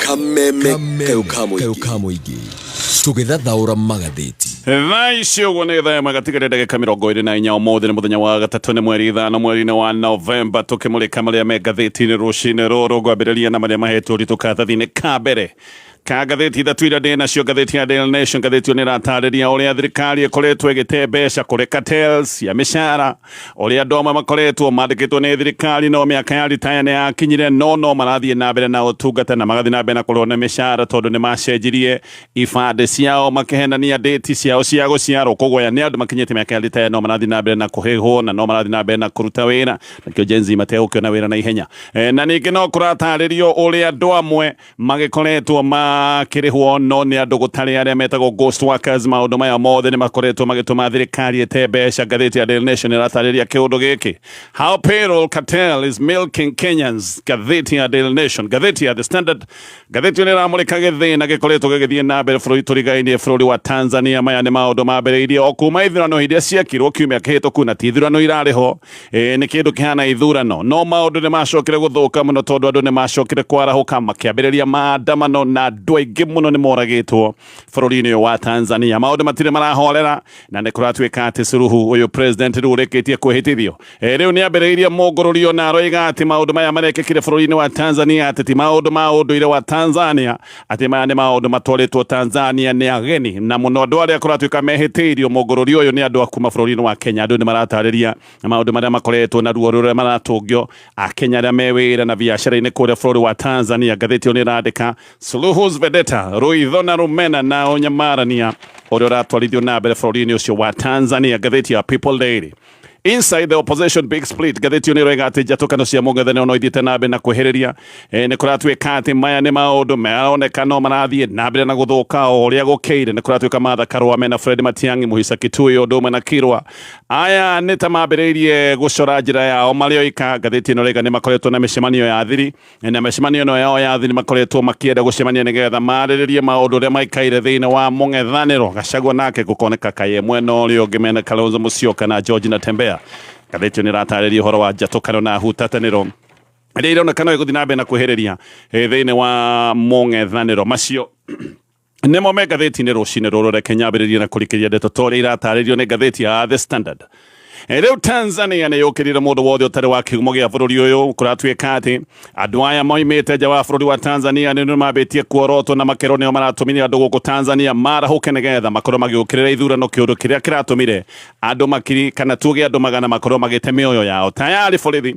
kameme kayukamuigi tũgĩthathaũra magathĩti thaa ici ũguo nĩ thaa ĩmwe gatigarĩ ndagĩka mĩrongo ĩrĩ na inya ũmũthĩ nĩ mũthenya wa gatatũ nĩ mweri ithano mweri-inĩ wa novemba tũkĩmũrĩka marĩa me ngathĩti-inĩ rũcinĩ rũrũ ngwambĩrĩria na marĩa mahetwo ũritũ karatathi-inĩ ka mbere Ka ngathĩti ithatũ iria ndĩ nacio ngathĩti ya Daily Nation ngathĩti ĩyo nĩ ĩratarĩria ũrĩa thirikari ĩkoretwo ĩgĩte mbeca kũrĩ cartels cia mĩcara ũrĩa andũ amwe makoretwo mandĩkĩtwo nĩ thirikari no mĩaka ya ritaya nĩ yakinyire no no marathiĩ na mbere na ũtungata na magathiĩ na mbere na kũrũo nĩ mĩcara tondũ nĩ macenjirie ibandĩ ciao makĩhenania ndĩti ciao cia gũciarwo koguo aya nĩ andũ makinyĩte mĩaka ya ritaya no marathiĩ na mbere na kũhĩhwo na no marathiĩ na mbere na kũruta wĩra nakĩo Gen Z mategũkĩona wĩra na ihenya Eh, na ningĩ no kũratarĩrio ũrĩa andũ amwe magĩkoretwo makĩrĩhwo no nĩ andũ gũtarĩ arĩa metagwo ghost workers maũndũ maya mothe nĩ makoretwo magĩtũma thirikari ĩte mbeca ngathĩti ya Daily Nation ĩratarĩria kĩũndũ gĩkĩ how payroll cartel is milking Kenyans ngathĩti ya Daily Nation ngathĩti ya The Standard ngathĩti nĩ ĩramũrĩka gĩthĩna gĩkoretwo gĩgĩthiĩ na mbere bũrũri tũrigainie bũrũri wa Tanzania maya nĩ maũndũ mambĩrĩirie o kuma ithurano iria ciekirwo kiumia kĩhĩtũku na ti ithurano irarĩ ho Ĩ, nĩ kĩndũ kĩhana ithurano no maũndũ nĩ macokire gũthũka mũno tondũ andũ nĩ macokire kwarahũka makĩambĩrĩria maandamano na andũ aingĩ mũno nĩ moragĩtwo bũrũri-inĩ ũyũ wa Tanzania maũndũ matirĩ marahorera na nĩ kũratuĩka atĩ Suluhu ũyũ president rĩu ũrĩkĩtie kwĩhĩtithio Ĩ, rĩu nĩ ambĩrĩirie mũngũrũrio na aroiga atĩ maũndũ maya marekĩkire bũrũri-inĩ wa Tanzania atĩ ti maũndũ ma ũndũire wa Tanzania atĩ maya nĩ maũndũ matwarĩtwo Tanzania nĩ ageni na mũno andũ arĩa kũratuĩka mehĩtĩirio mũngũrũri ũyũ nĩ andũ akuma bũrũri-inĩ wa Kenya andũ nĩ maratarĩria maũndũ marĩa makoretwo na ruo rũrĩa maratũngio Akenya arĩa me wĩra na biacara-inĩ kũrĩa bũrũri wa Tanzania ngathĩti ĩyo nĩ ĩrandĩka Suluhu's Vedetta rũitho na rũmena na ũnyamarania ũrĩa ũratwarithio na mbere bũrũri-inĩ ũcio wa Tanzania ngathĩti ya People Daily Inside the opposition big split gatheti ni rega ati jatukano cia mungethene ono ithite na mbe na kuhiriria e, ni kuratuika ati maya ni maundu maroneka no marathie na mbere na guthuka o uria gukiire ni kuratuika matha karwa mena Fred Matiangi muhisa kitui undu mwe na kirwa aya ni ta mambiririe gucora njira yao mari oika gatheti ni rega ni makoretwo na micemanio ya thiri na mĩcemanio ĩno yao ya thiri makoretwo makĩenda gũcemania nĩgetha marĩrĩrie maũndũ ũrĩa maikaire thĩinĩ wa mũng'ethanĩro gacagua nake gũkoneka kaye mwena ũrĩa ũngĩ mena kalonzo mũcioka na george na tembea ngathĩti ĩyo nĩ ĩratarĩria ũhoro wa njatũkano na hutatanĩro ĩrĩa ironekana ĩgũthiĩ na mbere na kwĩhĩrĩria eh, thĩinĩ wa mũng'ethanĩro macio Nĩ mo me ngathĩti-inĩ rũcinĩ rũrũ reke nyambĩrĩrie na kũrikĩria ndeto ta ũrĩa iratarĩrio nĩ ngathĩti ya The Standard. Eh, Rĩu Tanzania nĩ yũkĩrire mũndũ wothe ũtarĩ wa kĩhumo gĩa bũrũri ũyũ kũratuĩka atĩ andũ aya moimĩte nja wa bũrũri wa Tanzania nĩ nĩ mambĩtie kuorotwo na makerwo nĩo maratũmire andũ gũkũ Tanzania marahũke nĩgetha makorwo magĩũkĩrĩra ithurano kĩũndũ kĩrĩa kĩratũmire andũ makiri kana tuge andũ magana makorwo magĩte mĩoyo yao tayarĩ borithi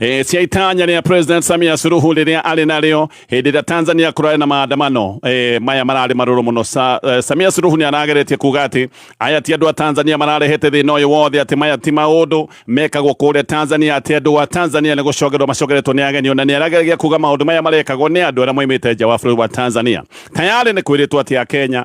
E, cia itanya rĩa President Samia Suluhu rĩrĩa arĩ narĩo hĩndĩ ĩrĩa Tanzania kũrarĩ na maandamano e, maya mararĩ marũrũ mũno Sa, e, Samia Suluhu nĩ arageretie kuga atĩ aya ti andũ a Tanzania mararehete thĩna ũyũ wothe atĩ maya ti maũndũ mekagwo kũrĩa Tanzania atĩ andũ a Tanzania nĩ gũcogerwo macogeretwo nĩ ageni ona nĩ arageragia kuga maũndũ maya marekagwo nĩ andũ arĩa moimĩte nja wa bũrũri wa Tanzania tayarĩ nĩ kwĩrĩtwo atĩ a Kenya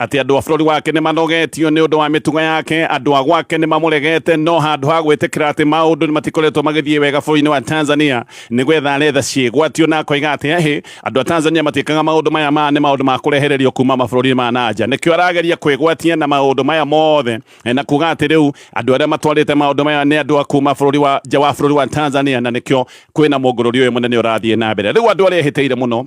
atĩ andũ a bũrũri wake nĩ manogetio nĩ ũndũ wa mĩtugo yake andũ a gwake nĩ mamũregete no handũ ha gwĩtĩkĩra atĩ maũndũ nĩ matikoretwo magĩthiĩ wega bũrũri-inĩ wa tanzania nĩ gwetha aretha ciĩgwatio na akoiga atĩ hĩ andũ a tanzania matiĩkaga maũndũ maya ma nĩ maũndũ ma kũrehererio kuma mabũrũri ma nanja nĩkĩo arageria kwĩgwatia na maũndũ maya mothe eh, na kuga atĩ rĩu andũ arĩa matwarĩte maũndũ maya nĩ andũ a kuma bũrũri wa nja wa bũrũri wa tanzania na nĩkĩo kwĩna mũngũrũri ũyũ mũnene ũrathiĩ na mbere rĩu andũ arĩa ehĩtĩire mũno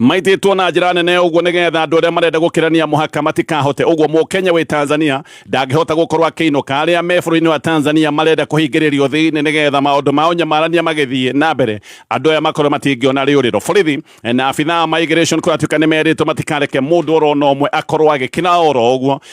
maitĩtwo na njĩra nene ũguo nĩgetha andũ arĩa marenda gũkĩrania mũhaka matikahote ũguo mũkenya wĩ tanzania ndangĩhota gũkorwo akĩinũka arĩa me bũrũri-inĩ wa tanzania marenda kũhingĩrĩrio thĩinĩ nĩgetha maũndũ mao nyamarania magĩthiĩ na mbere andũ aya makorwo matingĩona rĩũrĩro borithi na abithaa ma immigration kũratuĩka nĩ merĩtwo matikareke mũndũ orona ũmwe akorwo agĩkĩra oro ũguo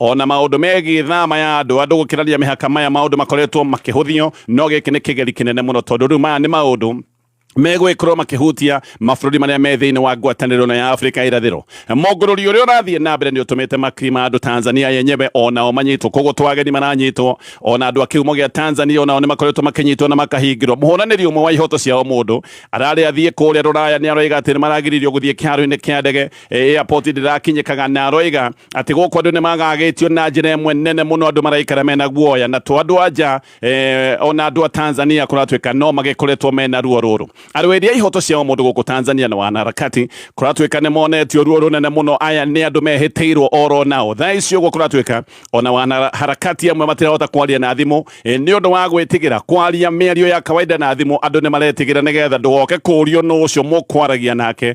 o na maũndũ megiĩ thama ya andũ andũ gũkĩrania mĩhaka maya maũndũ makoretwo makĩhũthio no gĩkĩ nĩ kĩgeri kĩnene mũno tondũ rĩu maya nĩ maũndũ megwĩkorwo makĩhutia mabũrũri marĩa me thĩinĩ wa ngwatanĩro na ya Afrika irathĩro. Mũngũrũri ũrĩa ũrathiĩ na mbere nĩ ũtũmĩte makiri ma andũ Tanzania yenyewe onao manyitwo, koguo to ageni maranyitwo, ona andũ a kĩhumo gĩa Tanzania onao nĩ makoretwo makĩnyitwo na makahingĩrwo. Mũhũranĩri ũmwe wa ihoto cia o mũndũ ararĩ athiĩ kũrĩa Rũraya nĩ aroiga atĩ nĩ maragiririo gũthiĩ kĩharo-inĩ kĩa ndege Eh, airport ndĩrakinyĩkaga na aroiga atĩ gũkũ andũ nĩ magagĩtio na njĩra ĩmwe nene mũno andũ maraikara mena guoya na to andũ anja eh, ona andũ a Tanzania kũratuĩka no magĩkoretwo mena ruo rũrũ arũĩri a ihoto cia mũndũ gũkũ Tanzania na wanaharakati kũratuĩka nĩ monetio ruo rũnene mũno aya nĩ andũ mehĩtĩirwo oro nao thaa ici ũguo kũratuĩka ona wanaharakati amwe matirahota kwaria na thimũ eh, nĩ ũndũ wa gwĩtigĩra kwaria mĩario ya kawaida na thimũ andũ nĩ maretigĩra nĩgetha ndũgoke kũrio nũ ũcio mũkwaragia nake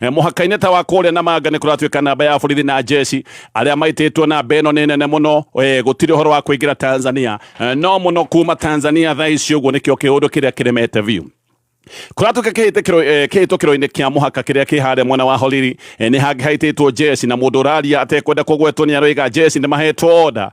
Eh, mũhaka-inĩ ta wa kũrĩa na manga nĩ kũratuĩka namba ya borithi na njeci arĩa maitĩtwo namba ĩno nĩ nene mũno eh, gũtirĩ ũhoro wa kũingĩra tanzania eh, no mũno kuma tanzania thaa ici ũguo nĩkĩo kĩũndũ kĩrĩa kĩremete biũ kuratuka kihitũkĩro-inĩ kĩa mũhaka kĩrĩa kĩ harĩa mwena wa horiri nĩ hangĩ haitĩtwo njeci na mũndũ ũraria atekwenda kũgwetwo nĩ aroiga njeci nĩ mahetwo oda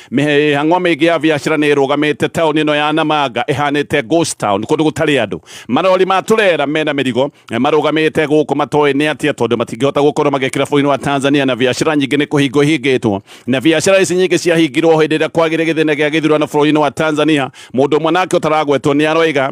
mĩhang'o mĩingĩ ya biacara nĩ ĩrũgamĩte taũni ĩno ya Namanga ĩhanĩte ghost town kũndũ gũtarĩ andũ marori ma tũrera mena mĩrigo marũgamĩte gũkũ matoĩ nĩ atĩa tondũ matingĩhota gũkorwo magĩkĩra bũrũri wa Tanzania na biacara nyingĩ nĩ kũhingwo ihingĩtwo na biacara ici nyingĩ ciahingirwo hĩndĩ ĩrĩa kwagĩire gĩthĩna gĩa gĩthurano bũrũri-inĩ wa Tanzania mũndũ ũmwe nake ũtaragwetwo nĩ aroiga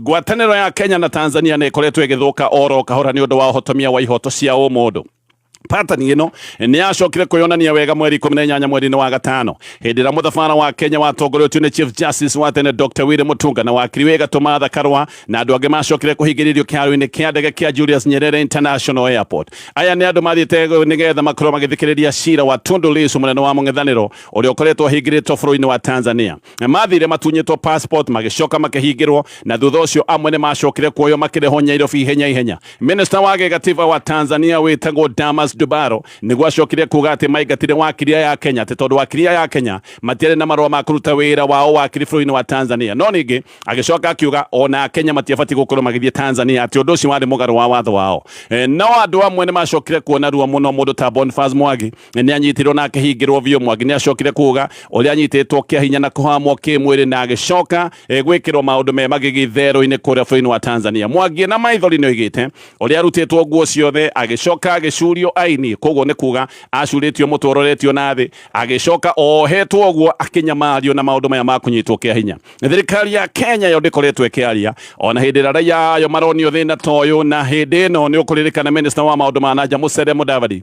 ngwatanĩro ya kenya na tanzania nä ĩkoretwo ĩgĩthũka oro kahora nĩ ũndũ wa ũhotomia wa ihoto cia ũmũndũ patani ĩno nĩ yacokire kwĩyonania wega mweri ikũmi na inyanya mweri-inĩ wa gatano hĩndĩ ĩrĩa mũthabara wa kenya watongoretio nĩ chief justice wa tene dr willy mutunga na wakiri wĩ gatũ matha karwa na andũ angĩ macokire kũhingĩrĩrio kĩharo-inĩ kĩa ndege kĩa julius nyerere international airport aya nĩ andũ mathiĩte nĩgetha makorwo magĩthikĩrĩria cira wa tundu lisu mũnene wa mũng'ethanĩro ũrĩa ũkoretwo ahingĩrĩtwo bũrũri-inĩ wa tanzania Maathire matunyĩtwo passport magĩcoka makĩhingĩrwo na thutha ũcio amwe nĩ macokire kuoyo makĩrehwo Nyairobi ihenya ihenya. Minista wa gĩgatiba wa Tanzania wĩtagwo Damas Dubaro nĩguo acokire kuuga atĩ maingatire wakiri aya a Kenya atĩ tondũ wakiri aya a Kenya matiarĩ na marũa ma kũruta wĩra wa ũwakiri bũrũri-inĩ wa Tanzania. No ningĩ agĩcoka akiuga ona Akenya matiabatiĩ gũkorwo magĩthiĩ Tanzania atĩ ũndũ ũcio warĩ mũgarũ wa watho wao. E, no andũ amwe nĩ macokire kuona ruo mũno mũndũ ta Boniface Mwangi nä anyitirwo na akä hingä rwo biå mwangi nä acokire kuga å rä a anyitĩtwo kä hinya na kũhamwo kä mwä rä na agĩcoka eh, gwä kä rwo maå ndå me magĩgitherũ-inĩ kũrĩa bũrũri-inĩ wa tanzania mwangi na maithori nä oigä te å rä a arutĩtwo nguo ciothe agĩcoka agĩcurio aini koguo nä kuga acurĩtio må twe ũroretio na thĩ agĩcoka ohetwo guo akĩnyamario na maũndũ maya ma kũnyitwo kĩa hinya thirikari ya kenya yo ndĩkoretwo ĩkĩaria ona hĩndĩ ĩrĩa raia ayo maronio thĩna ta ũyũ na hĩndĩ ĩno nĩ ũkũririkana minista wa maũndũ ma nanja mũcere mũdavadi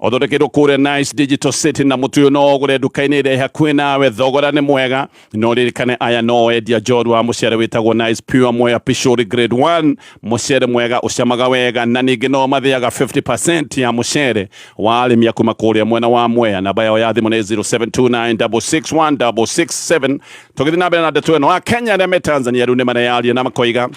Ũthondekeirwo kũrĩa Nice Digital City na mũtu ũyũ no ũgũre nduka-inĩ ĩrĩa hakuhĩ nawe, thogora nĩ mwega. No ũririkane aya no endia njorua wa mũcere wĩtagwo Nice Pure Mwea Pishori Grade 1. Mũcere mwega ũcamaga wega na ningĩ no mathĩaga 50% ya mũcere wa arĩmi a kuma kũrĩa mwena wa Mwea. Namba yao ya thimũ nĩ 0729661667. Tũgĩthiĩ na mbere na ndeto ĩno, Akenya arĩa me Tanzania rĩu nĩ mareyaria na makoiga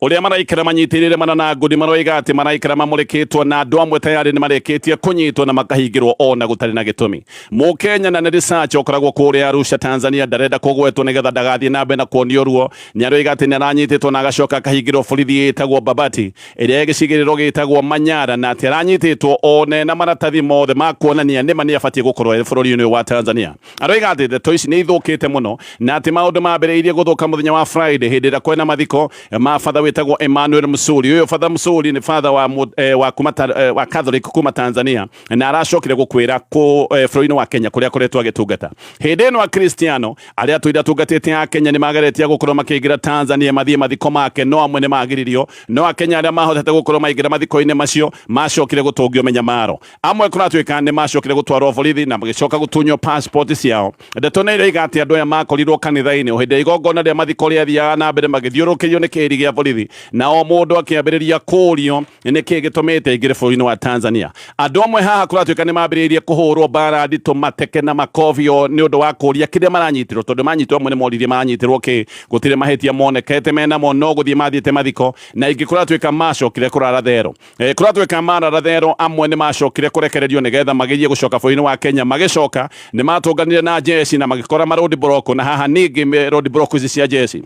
Ũrĩa maraikara manyitĩrĩre mana na ngũni maroiga atĩ maraikara mamũrĩkĩtwo na andũ amwe tayarĩ nĩ marĩkĩtie kũnyitwo na makahingĩrwo o na gũtarĩ na gĩtũmi. Mũkenya na nĩ Risacha ũkoragwo kũrĩa Arusha, Tanzania ndarenda kũgwetwo nĩgetha ndagathiĩ na mbere na kuonio ruo. Nĩ aroiga atĩ nĩ aranyitĩtwo na agacoka akahingĩrwo borithi ĩtagwo Babati ĩrĩa ĩ gĩcigĩrĩro gĩtagwo Manyara na atĩ aranyitĩtwo o na ena maratathi mothe ma kuonania nĩ ma nĩ abatiĩ gũkorwo e bũrũri-inĩ ũyũ wa Tanzania. Aroiga atĩ ndeto ici nĩ ithũkĩte mũno na atĩ maũndũ mambĩrĩirie gũthũka mũthenya wa Friday hĩndĩ ĩrĩa kwena mathiko ma batha wĩtagwo Emmanuel Musuri. Ũyũ batha Musuri nĩ batha wa, eh, wa, kuma, eh, wa Catholic kuma Tanzania na aracokire gũkwĩra kũ eh, bũrũri-inĩ wa Kenya kũrĩa akoretwo agĩtungata. Hĩndĩ ĩno Akristiano arĩa atũire atungatĩte a Kenya nĩ mageretie gũkorwo makĩingĩra Tanzania mathiĩ mathiko make, no amwe nĩ magiririo, no Akenya arĩa mahotete gũkorwo maingĩra mathiko-inĩ macio macokire gũtũngio mĩnyamaro. amwe kũratuĩka nĩ macokire gũtwarwo borithi na magĩcoka gũtunywo passport ciao ndeto nĩ iroiga atĩ andũ aya makorirwo kanitha-inĩ o hĩndĩ ya igongona rĩa mathiko rĩathiaga na mbere magĩthiũrũkĩrio nĩ kĩhĩri gĩa borithi na o mũndũ akĩambĩrĩria kũũrio nĩ kĩĩ gĩtũmĩte aingĩre bũrũri-inĩ wa tanzania andũ amwe haha kũratuĩka nĩ mambĩrĩirie kũhũrwo mbara nditũ mateke na makobi o nĩ ũndũ wa kũũria kĩrĩa maranyitirwo tondũ manyitirwo amwe nĩ moririe maranyitirwo kĩ gũtirĩ mahĩtia monekete menamo no gũthiĩ mathiĩte mathiko na ingĩ kũratuĩka macokire kũrara therũ Eh, kuratwika mararathero amwe ni macokire kurekererio nigetha magerie gucoka bũrũri-inĩ wa Kenya magicoka ni matunganire na jeshi na magikora ma road block na haha ningi road block ici cia jeshi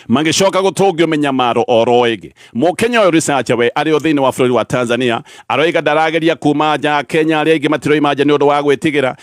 magicoka gutungio minyamaro oro ingi mukenya uyu risacha we ari o thiini wa bururi wa Tanzania aroiga ndarageria kuma nja Kenya ari ingi matiroi manja ni undu wa gwitigira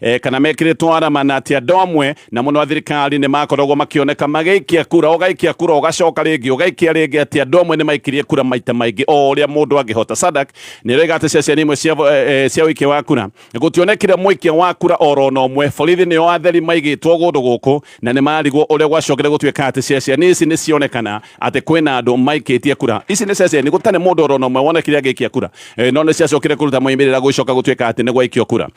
e, kana mekĩrĩtwo arama na atĩ andũ amwe na mũno athirikari nĩ makoragwo makĩoneka magĩikia kura ũgaikia kura ũgacoka rĩngĩ ũgaikia rĩngĩ atĩ andũ amwe nĩ maikirie kura maita maingĩ o ũrĩa mũndũ angĩhota sadak nĩ rĩga atĩ ceceni imwe cia, e, e, cia ũikia wa kura gũtionekire mũikia wa kura oro na ũmwe borithi nĩo atheri maigĩtwo gũndũ gũkũ na nĩ marigwo ũrĩa gwacokire gũtuĩka atĩ ceceni ici nĩ cionekana atĩ kwĩna andũ maikĩtie kura ici nĩ ceceni gũtarĩ mũndũ oro na ũmwe wonekire agĩikia kura e, no nĩ ciacokire kũruta moimĩrĩra gũcoka gũtuĩka atĩ nĩ gwaikio kura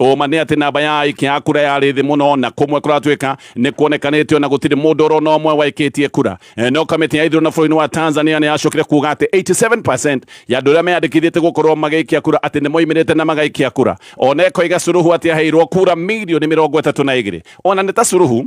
Ũma nĩ atĩ namba ya aikia a kura yarĩ thĩ mũno na kũmwe kũratuĩka nĩ kuonekanĩte ona gũtirĩ mũndũ ũrona ũmwe waikĩtie kura. Eh, no kamĩtĩ ya ithurano bũrũri-inĩ wa Tanzania nĩ yacokire kuga atĩ 87% ya andũ arĩa meyandĩkithĩtie gũkorwo magĩikia kura atĩ nĩ moimĩrĩte na magaikia kura. Ona ekoiga Suluhu atĩ aheirwo kura mirioni mĩrongo ĩtatũ na igĩrĩ. Ona nĩ ta Suluhu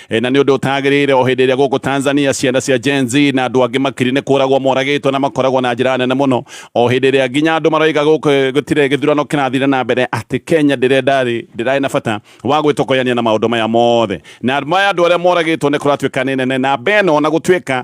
E, na nĩ ũndũ ũtagĩrĩire o hĩndĩ ĩrĩa gũkũ Tanzania ciana cia Gen Z na andũ angĩ makiri nĩ kũragwo moragĩtwo na makoragwo na njĩra nene mũno o hĩndĩ ĩrĩa nginya andũ maroiga gũkũ e, gũtirĩ gĩthurano kĩrathire na mbere atĩ Kenya ndĩrenda rĩ ndĩrarĩ na bata wa gwĩtokoyania na maũndũ maya mothe na maya andũ arĩa moragĩtwo nĩ kũratuĩka nĩ nene namba ĩno na gũtuĩka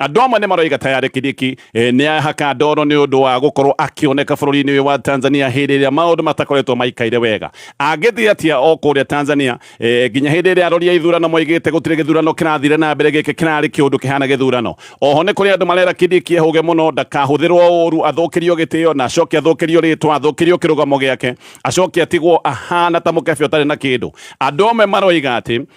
Andũ amwe nĩ maroiga ta yarĩ Kĩdiki eh, nĩ ahaka ndoro nĩ ũndũ wa gũkorwo akĩoneka bũrũri-inĩ ũyũ wa Tanzania hĩndĩ ĩrĩa maũndũ matakoretwo maikaire wega. Angĩthiĩ atĩa o kũrĩa Tanzania eh, nginya hĩndĩ ĩrĩa arori a ithurano moigĩte gũtirĩ gĩthurano kĩrathire na mbere gĩkĩ kĩrarĩ kĩũndũ kĩhana gĩthurano. Oho nĩ kũrĩ andũ marera Kĩdiki ehũge mũno ndakahũthĩrwo ũũru athũkĩrio gĩtĩo na acoke athũkĩrio rĩtwa athũkĩrio kĩrũgamo gĩake acoke atigwo ahana ta mũkebe ũtarĩ na kĩndũ. Andũ amwe maroiga atĩ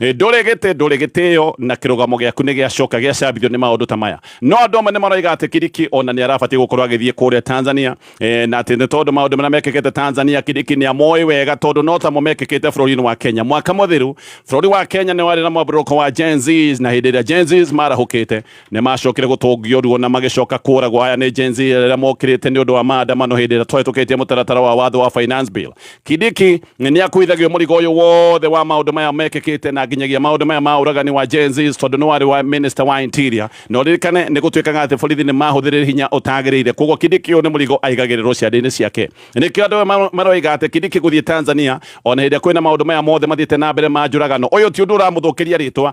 ndũrĩ gĩtĩ ndũrĩ gĩtĩo na kĩrũgamo gĩaku nĩ gĩacoka gĩacambithio nĩ maũndũ ta maya no andũ amwe nĩ maroiga atĩ kiriki ona nĩ arabatiĩ gũkorwo agĩthiĩ kũrĩa tanzania e, na atĩ nĩ tondũ maũndũ marĩa mekĩkĩte tanzania kiriki nĩ amoĩ wega tondũ no tamo mekĩkĩte bũrũri-inĩ wa kenya mwaka mũthiru bũrũri wa kenya nĩ warĩ na mwambũrũko wa gen Zs, na hĩndĩ ĩrĩa gen Zs marahũkĩte Nĩ maacokire gũtũngio ruo na magĩcoka kũũragwo. Aya nĩ Gen Z arĩa mokĩrĩte nĩ ũndũ wa maandamano hĩndĩ ĩrĩa twahĩtũkĩtie mũtaratara wa watho wa Finance Bill. Kindiki nĩ akuithagio mũrigo ũyũ wothe wa maũndũ maya mekĩkĩte na nginyagia maũndũ maya ma ũragani wa Gen Zs tondũ nĩ warĩ wa Minister wa Interior. Na ũririkane nĩ gũtuĩkaga atĩ borithi nĩ mahũthĩrire hinya ũtagĩrĩire. Kwoguo Kindiki ũyũ nĩ mũrigo aigagĩrĩrwo ciande-inĩ ciake. Nĩkĩo andũ amwe maroiga atĩ Kindiki gũthiĩ Tanzania o na hĩndĩ ĩrĩa kwĩna maũndũ maya mothe mathiĩte na mbere ma njũragano, ũyũ ti ũndũ ũramũthũkĩria rĩtwa.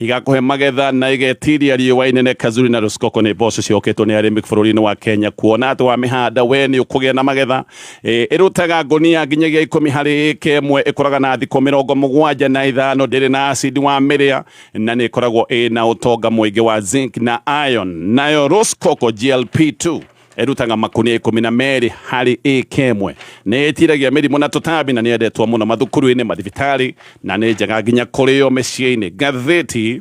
Igakũhe magetha na igetiria riũa inene Kazuri na Rosecoco nĩ mboco cioketwo nĩ arĩmi bũrũri-inĩ wa Kenya kuona atĩ wamĩhanda we nĩ ũkũgĩa na magetha e, ĩrutaga ngũnia nginyagia ikũmi harĩ ĩka ĩmwe ĩkũraga na thikũ mĩrongo mũgwanja na ithano ndĩrĩ na acidi wa mĩrĩa na nĩ ĩkoragwo ĩna ũtonga mũingĩ wa zinc na iron nayo Rosecoco GLP2 ĩrutaga makũnia ikũmi na merĩ harĩ ĩka ĩmwe nĩ ĩtiragia mĩrimũ na tũtambi na nĩ yendetwo mũno mathukuru-inĩ mathibitarĩ na nĩ njega nginya kũrĩo mĩciĩ-inĩ ngathĩti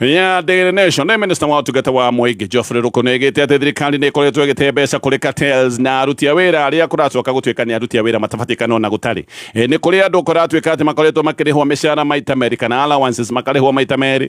ya Daily Nation nĩ minista wa ũtungata wa mũingĩ Geoffrey Ruku nĩ aigĩte atĩ thirikari nĩ ĩkoretwo ĩgĩte mbeca kũrĩ cartels na aruti a wĩra arĩa kũracoka gũtuĩka nĩ aruti a wĩra matabatiĩ kana ona gũtarĩ Ĩ, nĩ kũrĩ andũ kũratuĩka atĩ makoretwo makĩrĩhwo mĩcara maita merĩ kana allowances makarĩhwo maita merĩ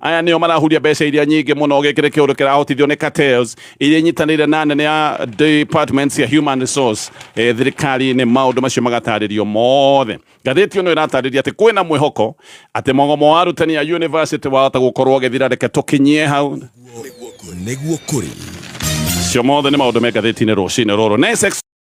Aya nĩo marahuria mbeca iria nyingĩ mũno gĩkĩrĩ kĩũndũ kĩrahotithio nĩ cartels iria inyitanĩire na nene ya departments cia human resource eh, thirikari-inĩ maũndũ macio magatarĩrio mothe ngathĩti ĩno ĩratarĩria atĩ kwĩna mwĩhoko atĩ mogomo wa arutani a university wahota gũkorwo ũgĩthira reke tũkinyie hau nĩguo kũrĩ cio mothe nĩ maũndũ me ngathĩti-inĩ rũcinĩ rũrũ Next